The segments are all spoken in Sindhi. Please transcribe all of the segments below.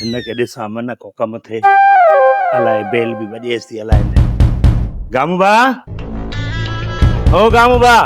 هن کي ڏسان منه ڪو ڪم ٿئي. الاء بيل به وڄيس ٿي الاء نه. گامو ڀاء! او گامو ڀاء!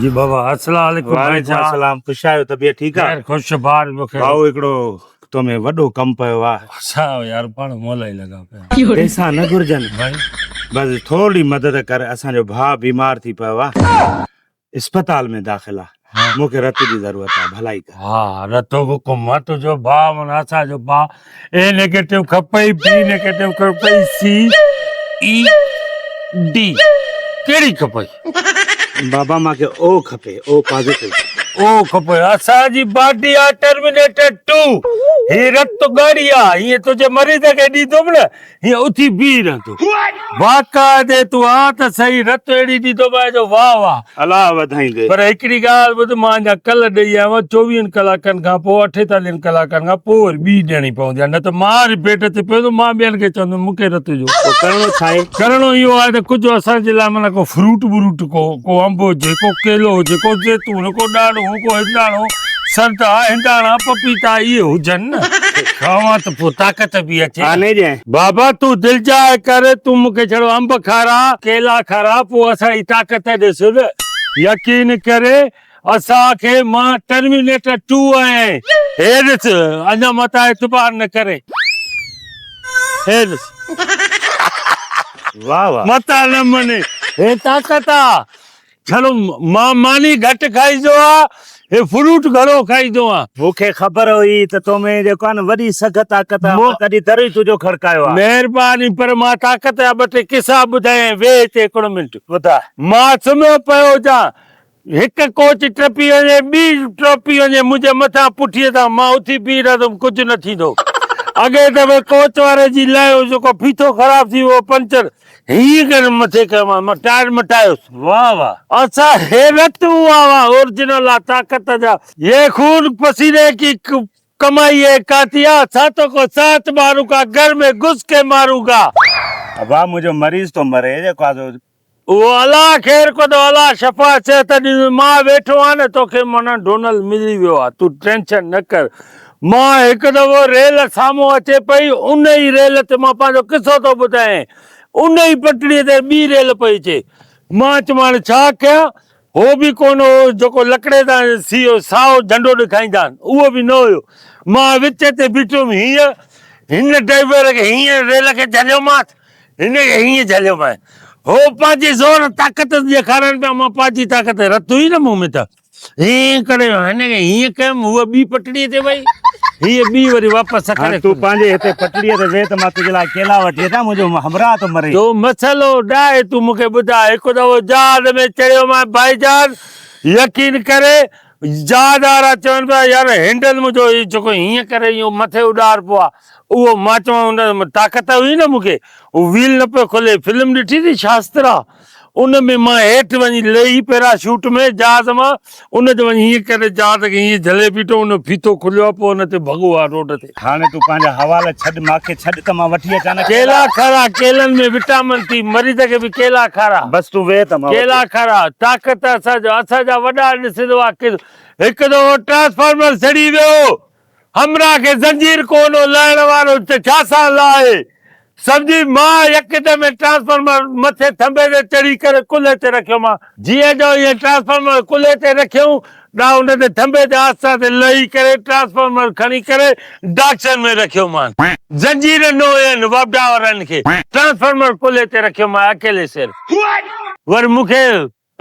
جي بابا السلام عليڪم. وعليڪم السلام خوش آهيو طبيعت ٺيڪ آ. خير خوش بار مکي. ڀائو هڪڙو تو ۾ وڏو ڪم پيو آ. ڇا يار پاڻ مولائي لڳا پيا. پيسا نه گهرجن. بس ٿورڙي مدد ڪر اسان جو ڀاء بيمار ٿي پيو آ. اسپتال ۾ داخل آ مون کي رت جي ضرورت آ ڀلائي ڪر. ها رتو به ڪم آ تنهنجو ڀاء معنيٰ اسان جو ڀاء اي نيگيٽو کپئي بي نيگيٽو کپئي سي اي ڊي ڪهڙي کپئي. بابا مان کي او کپي او پازيٽو. او کپئي اسان جي باڊي آ ٽرمينيٽر ٽو هي رت ڳاڙهي آ هيئن تنهنجي مريض کي ڏيندوم نه. هيء اٿي بيهي رهندو. واقعا ڏي تون آ ته سهي رت اهڙي ڏيندو مئي جو واهه واهه. الله وڌائيندي. پر هڪڙي ڳالهه ٻڌ مان اڃا ڪل ڏئي آيو آهيان چوويهن ڪلاڪن کان پوء اٺيتاليهن ڪلاڪن کان پوء وري ٻي ڏيڻي پوندي آهي نه ته مان وري بيڊ تي پيو ته مان ٻين کي چوندم مون کي رت ڏيو. پوء ڪرڻو ڇا آهي؟ ڪرڻو اهو آهي ته ڪجهه اسان جي لاء معنيٰ ڪو فروٽ بروٽ ڪو ڪو انب هجي ڪو ڪيلو هجي ڪو زيتون ڪو ڏاڙهون ڪو هنداڻو. سنت آ هنداڻا پپيتا اهي هجن نه کاوان ته پوء طاقت به اچي. بابا تون دلجاء ڪر تون مون کي ڇڙو انب کاراء ڪيلا کاراء پوء اسان جي طاقت ڏس نه يقين ڪر اسان کي مان ٽرمينيٽر ٽو آهيان هي ڏس اڃا متان اعتبار نه ڪر هي ڏس متان نه مڃي هي طاقت آ ڇڙو مان ماني گهٽ کائيندو آ هي فروٽ گهڻو کائيندو آ. مون کي خبر هئي ته تو ۾ جيڪو آهي نه وڏي سگهه طاقت آ مان تڏهن در ئي تنهنجو کڙڪايو آ. مهرباني پر مان طاقت جا ٻه ٽي قصا ٻڌايئين ويهه هتي هڪڙو منٽ. ٻڌاء. مان سمهيو پيو هجان هڪ ڪوچ ٽپي وڃي ٻي ٽپي وڃي منهنجي مٿان پٺيء تان مان اٿي بيهي رهندم ڪجهه نه ٿيندو اڳئين دفعي ڪوچ واري جي لايو جيڪو ڦيٿو خراب ٿي ويو پنچر هيء گرم مٿي کان مان مٽائڻ مٽايس. واه واه. اسا حيرت هئا وا اورجنل آ طاقت جا يي خون پسيني ڪي ڪمائي هي کاتي آ ساتو ڪو سات مارون ڪا گھر مي گھس ڪي مارون گا. ابا منهنجو مريض ٿو مري جي ڪاڌو. اوهو الله خير ڪندو الله شفا صحت ڏيندو مان ويٺو آهيان نه توکي منا ڊونل ملي ويو آ تون ٽينشن نه ڪر. مان هڪ دفعو ريل سامهون اچي پئي، ان ئي ريل تي مان پنهنجو قصو ٿو ٻڌايين، ان ئي پٽڙيء تي ٻي ريل پئي اچي. مان چيم هاڻي ڇا ڪيان؟ هو به ڪو نه هو، جيڪو لڪڙي تان سيو سائو جهنڊو ڏيکائيندان، اهو به نه هيو. مان وچ تي بيٺوم هينئن، هن ڊرائيور کي هينئن ريل کي جهليومانس، هن کي هينئن جهليومانس. هو پنهنجي زور طاقت ڏيکارن پيا، مان پنهنجي طاقت رٿو ئي نه مون ۾ ته. ائين ڪري هن کي هيئن ڪيم، هوء ٻي پٽڙيء تي وئي، هيء ٻي وري واپس سکر هاڻي تون پنهنجي هتي پٽڙيء تي ويهه ته مان تنهنجي لاء ڪيلا وٺي اچان، منهنجو همراهه ٿو مري. جو مسئلو ڏاهي تون مون کي ٻڌاء. هڪ دفعو جهاز ۾ چڙهيومانء ڀائيجان، يقين ڪري جهاز وارا چون پيا يار هينڊل منهنجو هي جيڪو هيئن ڪري ايئن مٿي اڏار پو آ، اهو مان چوان ان طاقت هئي نه مون کي، هو ويل نه پيو کلي، فلم ڏٺي ٿي شاسترا؟ ان ۾ مان هيٺ وڃي لهي پيرا شوٽ ۾ جهاز مان ان تي وڃي هيئن ڪري جهاز کي هيئن جهلي بيٺو ان جو ڦيٿو کليو آهي پوء ان تي ڀڳو آهي روڊ تي. هاڻي تون پنهنجا حوالا ڇڏ ماکي ڇڏ ته مان وٺي اچان نه ڪيلا. ڪيلا کارا ڪيلن ۾ وٽامن ٿي مريض کي به ڪيلا کارا. بس تون ويهه ته مان وٺي. ڪيلا کارا طاقت اسان جو اسان جا وڏا ڏسندو آ ڪس هڪ دفعو ٽرانسفارمر سڙي ويو. همراهه کي زنجير ڪونو لاهڻ وارو ته ڇا سان لاهي. سمجهي ماء يڪدم ۽ ٽرانسفارمر مٿي ٿنڀي تي چڙهي ڪري ڪلهي تي رکيومان. جيئن جو ائين ٽرانسفارمر ڪلهي تي رکيون ڏا ان تي ٿنڀي تي آهستي آهستي لهي ڪري ٽرانسفارمر کڻي ڪري ڊاڪشن ۾ رکيومان. زنجير نو ين وبڊا وارن کي ٽرانسفارمر ڪلهي تي رکيومان اڪيلي سر. وري مون کي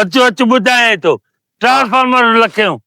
اچو اچ ٻڌائين ٿو. ٽرانسفارمر لکيون.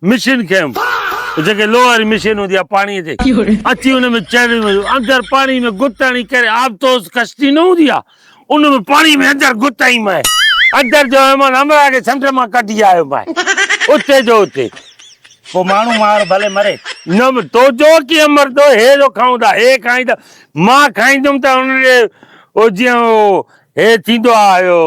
مشين کنيم جيڪي لوهه واري مشين هوندي آهي پاڻي تي اچي ان ۾ چڙهي ويو اندر پاڻي ۾ گت هڻي ڪري آبتوز ڪشتي نه هوندي آهي ان ۾ پاڻي ۾ اندر گت هنئي مئي اندر جو ايمان همراهه کي سمنڊ مان ڪڍي آيو مئي اتي جو اتي پوء ماڻهو مار ڀلي مري. نه تو جو ڪيئن مردو هي جو کائون ٿا هي کائين ٿا مان کائيندم ته ان ڏي او جيئن او هي ٿيندو آهي اهو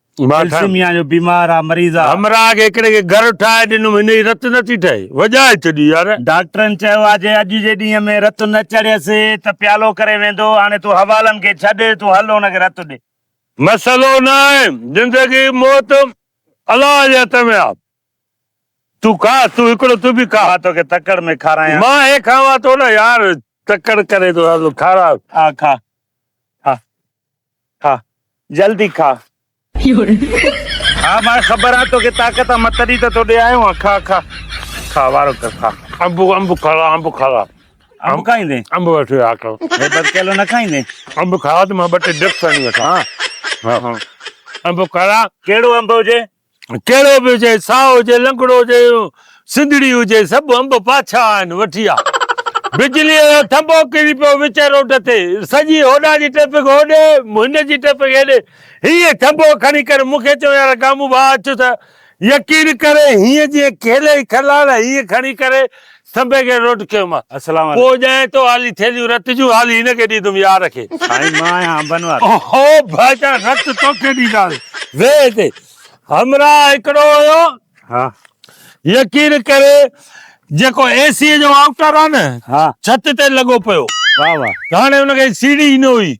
ٿيلسيميا جو بيمار آ مريض آ. همراهه کي هڪڙي کي گهر ٺاهي ڏنم هن جي رت نٿي ٺهي وڄائي ڇڏي يار. ڊاڪٽرن چيو آ جي اڄ جي ڏينهن ۾ رت نه چڙهيس ته پيالو ڪري ويندو هاڻي تون حوالن کي ڇڏ تون هل هن کي رت ڏي. مسئلو نه آهي زندگي موت الله جي هٿ ۾ آ تون کا تون هڪڙو تون به کا. مان توکي تڪڙ ۾ کارايان. مان هي کاوان ٿو نه يار تڪڙ ڪري ٿو کارا. آ کا کا. کاء جلدي کاء. ها ماء خبر آ توکي طاقت آ مان تڏهن ته تو ڏي آيو آهيان کاء کاء کاء وارو ڪر کاء. انب انب کاء انب کاء. انب کائيندين؟ انب وٺي آ کاء. هيڊ اڌ ڪيلو نه کائيندين؟ انب کاء ته مان ٻه ٽي ڊپس هڻي وٺان. ها ها انب کاء. ڪهڙو انب هجي؟ ڪهڙو به هجي، ساهه هجي، لنگڙو هجي، سنڌڙي هجي، سڀ انب پاڇا آهن، وٺي آ. بجليء جو ٿنڀو ڪري پيو وچ روڊ تي، سڄي هوڏا جي ٽريفڪ هوڏي، هن جي ٽريفڪ هيڏي. هينئن ٿنڀو کڻي ڪري مون کي چيو، يار گامو ڀاء اچ ته يقين ڪر، هينئن جيئن کيلي ئي کلال هينئن کڻي ڪري سنبي کي روٽ ڪيومانس. السلام عليڪم. پوء ڄائين تو هالي ٿيلهيون رت جون هالي هن کي ڏيندم يار کي. سائين مان آهيان انبن وارو. اهو ڀائيٽا رت توکي ڏينداسين. ويهه هتي. همراهه هڪڙو هيو. ها. يقين ڪري جيڪو اي سي جو آئوٽر آ نه. ها. ڇت تي لڳو پيو. واهه واهه. هاڻي ان کي سيڙهي ئي نه هئي.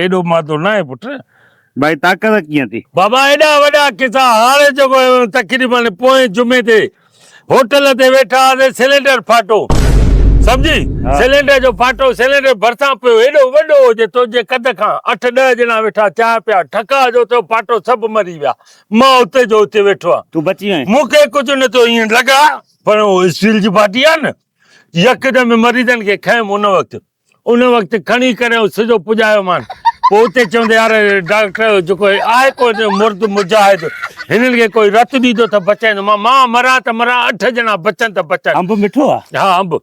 ايڏو مادو ناهي پٽ. ڀائي طاقت ڪيئن ٿي؟ بابا ايڏا وڏا قصا هاڻي جيڪو تقريباً پوئين جمعي تي هوٽل تي ويٺا هئاسين سلينڊر ڦاٽو سمجهي سلينڊر جو ڦاٽو سلينڊر ڀرسان پيو ايڏو وڏو جو تنهنجي قد کان اٺ ڏهه ڄڻا ويٺا چانهه پيا ٺڪاء جو ٿيو ڦاٽو سڀ مري ويا مان اتي جو اتي ويٺو آهيان تون بچي وئين؟ مون کي ڪجهه نه ٿيو ائين لڳا پر اهو اسٽيل جي باٽي آهي نه يڪدم مريضن کي کنيم ان وقت ان وقت کڻي ڪري سجو پڄايو مان پوء اتي چون ته يار ڊاڪٽر جيڪو آهي ڪو مرد مجاهد هنن کي ڪوئي رت ڏيندو ته بچائيندو مان مان مران ته مران اٺ ڄڻا بچن ته بچن انب مٺو آ ها انب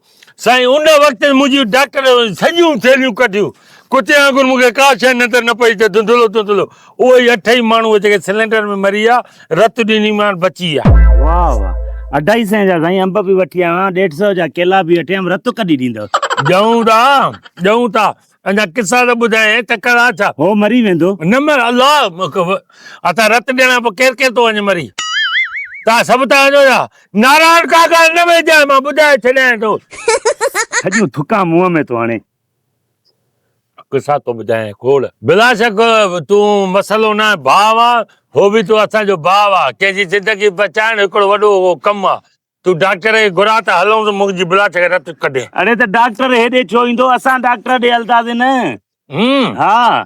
سائين ان وقت منهنجي ڊاڪٽر سڄيون ٿيلهيون ڪڍيون ڪتي وانگر مون کي ڪا شيء نظر نه پئي ته ڌنڌلو ڌنڌلو اهو ئي اٺ ئي ماڻهو هو جيڪي سلينڊر ۾ مري ويا رت ڏني مان بچي ويا. واهه واهه اڍائي سئين جا سائين انب به وٺي آيو آهيان ڏيڍ سئو جا ڪيلا به وٺي آيم رت ڪڏي ڏيندؤ. ڏيون ٿا ڏيون ٿا اڃا قصا ته ٻڌايئي تڪڙ آ ڇا. هو مري ويندو. نه مر الله اسان رت ڏيڻ کان پوء ڪير ڪير ٿو وڃي مري توهان سڀ ٿا وڃو ڇا نارائڻ ڪاڪا نه ويجهه مان ٻڌائي ڇڏيائين ٿو. سڄيون ٿڪان منهن ۾ ٿو هڻي. قصا ٿو ٻڌايين کوڙ. بلا شڪ تون مسئلو ناهي ڀاء آ هو به تو اسان جو ڀاء آ ڪنهن جي زندگي بچائڻ هڪڙو وڏو ڪم آ تون ڊاڪٽر کي گهرا ته هلون ته منهنجي بلا شڪ رت ڪڍين. اڙي ته ڊاڪٽر هيڏي ڇو ايندو اسان ڊاڪٽر ڏي هلداسين نه. همم. ها.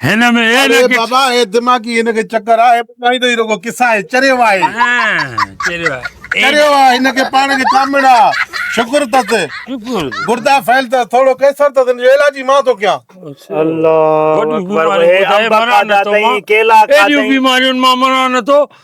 هن ۾ اي نه ڪي بابا اي دماغي هن کي چڪر آهي ٻڌائي ته هي رڳو قصا آهي چريو آهي چريو آهي چريو آهي هن کي پاڻ کي ڪامڙ آ شڪر تس شڪر گردا فيل تس ٿورو ڪيسر تس هن جو علاج ئي مان ٿو ڪيان الله اڪبر هي امبا کادا تئي ڪيلا کادا تئي ايون بيمارين مان مران نه ٿو